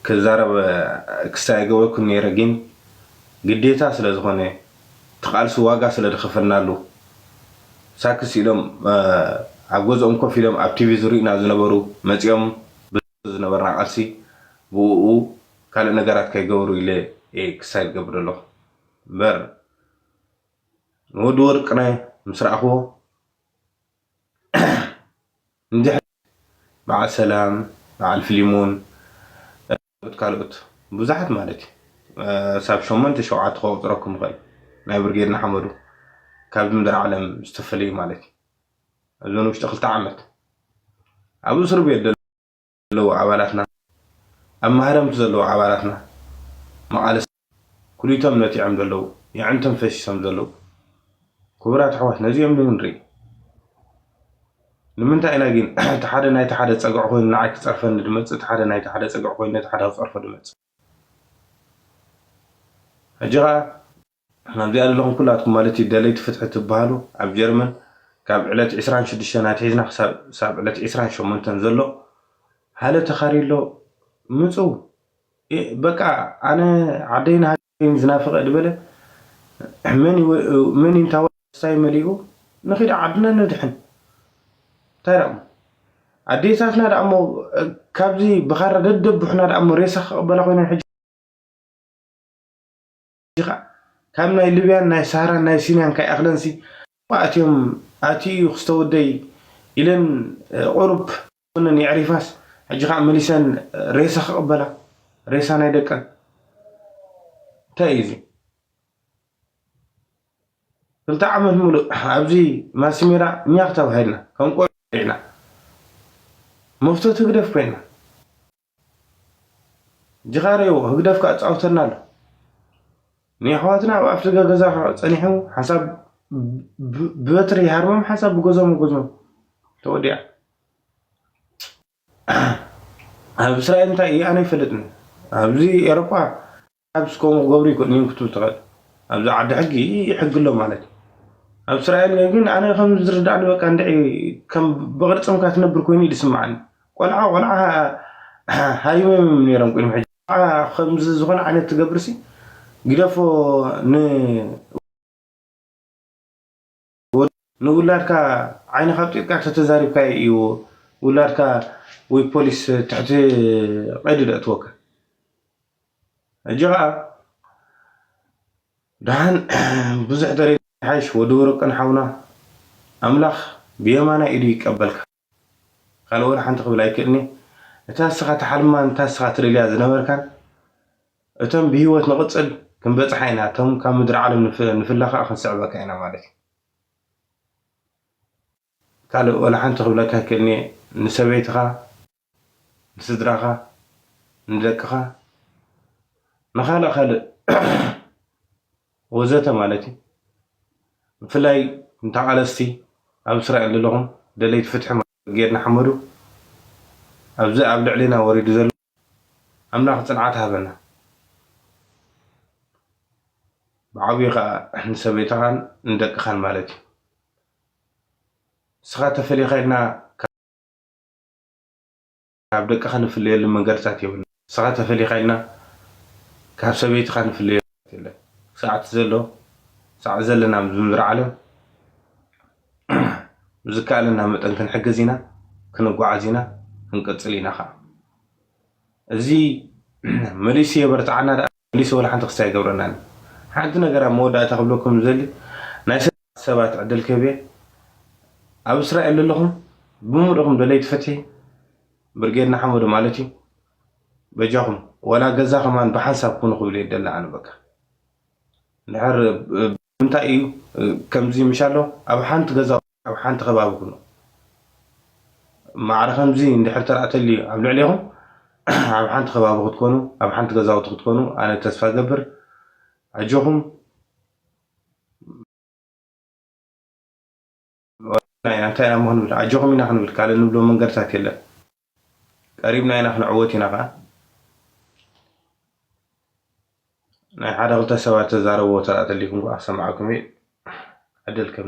ክዛረብ ክሳይ ኣይገበርኩን ነይረ ጊን ግዴታ ስለ ዝኾነ እቲ ቃልሲ ዋጋ ስለ ድኸፈልናሉ ሳክስ ኢሎም ኣብ ገዝኦም ኮፍ ኢሎም ኣብ ቲቪ ዝሪኡና ዝነበሩ መጺኦም ብዘሎ ዝነበርና ቃልሲ ብኡኡ ካልእ ነገራት ከይገበሩ ኢለ እየ ክሳይ ዝገብር ዘለኹ እምበር ንወዲ ወርቅነ ምስ ረኣኽዎ እንድሕር በዓል ሰላም በዓል ፍሊሞን ካልኦት ካልኦት ብዙሓት ማለት እዩ ክሳብ ሸሞንተ ሸውዓተ ከቁጽረኩም ይኽእል ናይ ብርጌድ ንሓመዱ ካብዚ ምድሪ ዓለም ዝተፈለዩ ማለት እዩ ኣብዘን ውሽጢ ክልተ ዓመት ኣብ እስርቤት ዘለዉ ኣባላትና ኣብ ማህረምቲ ዘለዉ ኣባላትና መቓልስቲ ኩሊቶም ነቲዖም ዘለዉ የዕንቶም ፈሲሶም ዘለዉ ኩቡራት ኣሕዋት ነዚኦም ዶ ንርኢ ንምንታይ ኢና ጊን እቲ ሓደ ናይቲ ሓደ ጸግዒ ኮይኑ ንዓይ ክጸርፈኒ ድመጽእ እቲ ሓደ ናይቲ ሓደ ጸግዒ ኮይኑ ነቲ ሓደ ክጸርፎ ድመጽእ ሕጂ ከኣ ንሕና ኣብዚ ኣለኹም ኩላትኩም ማለት እዩ ደለይቲ ፍትሒ ትብሃሉ ኣብ ጀርመን ካብ ዕለት ዕስራን ሽዱሽተን ኣትሒዝና ክሳብ ሳብ ዕለት ዕስራን ሸሞንተን ዘሎ ሃለ ተኻርዩ ኣሎ ምጹ እ በቃ ኣነ ዓደይን ሃገረይን ዝናፍቐ ድበለ መን ዩ መን ዩ እንታ ወሳይ መሊኡ ንኺድ ዓድና ንድሕን እንታይ ዳእሞ ኣዴታትና ዳእሞ ካብዚ ብኻራ ደደቡሕና ዳእሞ ሬሳ ክቕበላ ኮይነን ሕጂ ዲኻ ካብ ናይ ልብያን ናይ ሳህራን ናይ ሲንያን ካይኣክለንሲ ኣብኡ ኣትዮም ኣትዩ እዩ ክስተወደይ ኢለን ቁሩብ ጎነን የዕሪፋስ ሕጂ ካኣ መሊሰን ሬሳ ክቅበላ ሬሳ ናይ ደቀን እንታይ እዩ እዚ ክልተ ዓመት ሙሉእ ኣብዚ ማሲሜራ ኛኽ ተባሂልና ከም ቆልዑ ተባሊዕና መፍቶ ህግደፍ ኮይና ጅኻሬዎ ህግደፍ ክኣ ጻውተና ኣሎ ንየሕዋትና ኣብ ኣፍደገ ገዛ ጸኒሑ ሓንሳብ ብበትሪ ይሃርሞም ሓንሳብ ብገዞም ይጎዝሞም ተወዲኣ ኣብ እስራኤል እንታይ ኢዩ ኣነ ኣይፈልጥን ኣብዚ ኤሮጳ ፐርሃፕስ ከምኡ ክገብሩ ይክእሉ እዮም ክትብል ትክእል ኣብዚ ዓዲ ሕጊ ሕጊ ኣሎ ማለት እዩ ኣብ እስራኤል ግን ኣነ ከም ዝርዳእኒ በቃ እንድዒ ከም ብቅርጽምካ ትነብር ኮይኑ ዝስምዓኒ ቆልዓ ቆልዓ ሃሪሞም እዮም ነይሮም ቅድሚ ሕጂ ከምዚ ዝኾነ ዓይነት ትገብርሲ ግደፎ ን ንውላድካ ዓይንኻ ኣብጢጥካ ተተዛሪብካዮ እዩ ውላድካ ወይ ፖሊስ ትሕቲ ቀይዲ ደእትወካ ሕጂ ኸኣ ደሓን ብዙሕ ተሪር ይሓይሽ ወዲ ወርቅን ሓውና ኣምላኽ ብየማናይ ኢዱ ይቀበልካ። ካልእ ወላ ሓንቲ ክብል ኣይክእልን'የ። እታ ንስኻ ትሓልማን እታ ንስኻ ትደልያ ዝነበርካን እቶም ብህይወት ንቕጽል ክንበጽሓ ኢና፣ እቶም ካብ ምድሪ ዓለም ንፍለ ኸኣ ክንስዕበካ ኢና ማለት'ዩ። ካልእ ወላ ሓንቲ ክብለካ ኣይክእልን'የ፣ ንሰበይትኻ፣ ንስድራኻ፣ ንደቅኻ፣ ንኻልእ ካልእ። ወዘተ ማለት እዩ ብፍላይ ንተቃለስቲ ኣብ እስራኤል ዘለኹም ደለይቲ ፍትሒ ብርጌድ ንሓመዱ ኣብዚ ኣብ ልዕሊና ወሪዱ ዘሎ ኣምላኽ ጽንዓት ይሃበና ብዓብዩ ከኣ ንሰበይትኻን ንደቅኻን ማለት እዩ ንስኻ ተፈሊኻ ኢልና ካብ ደቅኻ ንፍለየሉ መንገድታት የብልናን። ንስኻ ተፈሊኻ ኢልና ካብ ሰበይትኻ ንፍለየሉ መንገድታት የለን። ክሳዕ እቲ ዘሎ ክሳዕ ዘለና ኣብዚ ምድሪ ዓለም ብዝከኣለና መጠን ክንሕግዝ ኢና፣ ክንጓዓዝ ኢና፣ ክንቅጽል ኢና ከኣ። እዚ መሊሱ የበርትዓና ደኣ። መሊሱ ወላ ሓንቲ ክስታይ ኣይገብረናን እዩ ሓንቲ ነገር ኣብ መወዳእታ ክብለኩም ዝደሊ ናይ ሰለስተ ሰባት ዕድል ክህብ እየ ኣብ እስራኤል ለለኹም ብምልእኹም ደለይቲ ፍትሒ ብርጌድ ንሓመዱ ማለት እዩ በጃኹም ወላ ገዛ ከማን ብሓንሳብ ኩኑ ክብል እየ ደሊ ኣነ በቃ እንድሕር ብምንታይ እዩ ከምዚ ምሻሎ ኣብ ሓንቲ ገዛ ኣብ ሓንቲ ከባቢ ኩኑ። ማዕረ ከምዚ እንድሕር ተርኣ ተልዩ ኣብ ልዕሌኹም ኣብ ሓንቲ ከባቢ ክትኮኑ ኣብ ሓንቲ ገዛውቲ ክትኮኑ ኣነ ተስፋ ገብር ኣጆኹም እንታይ ኢና እሞ ክንብል ኣጆኹም ኢና ክንብል ካልእ ንብሎ መንገድታት የለን። ቀሪብና ኢና ክንዕወት ኢና ከኣ ናይ ሓደ ክልተ ሰባት ተዛረብዎ ተራ ተሊኩም ከኣ ክሰምዓኩም እየ ዕድል ከም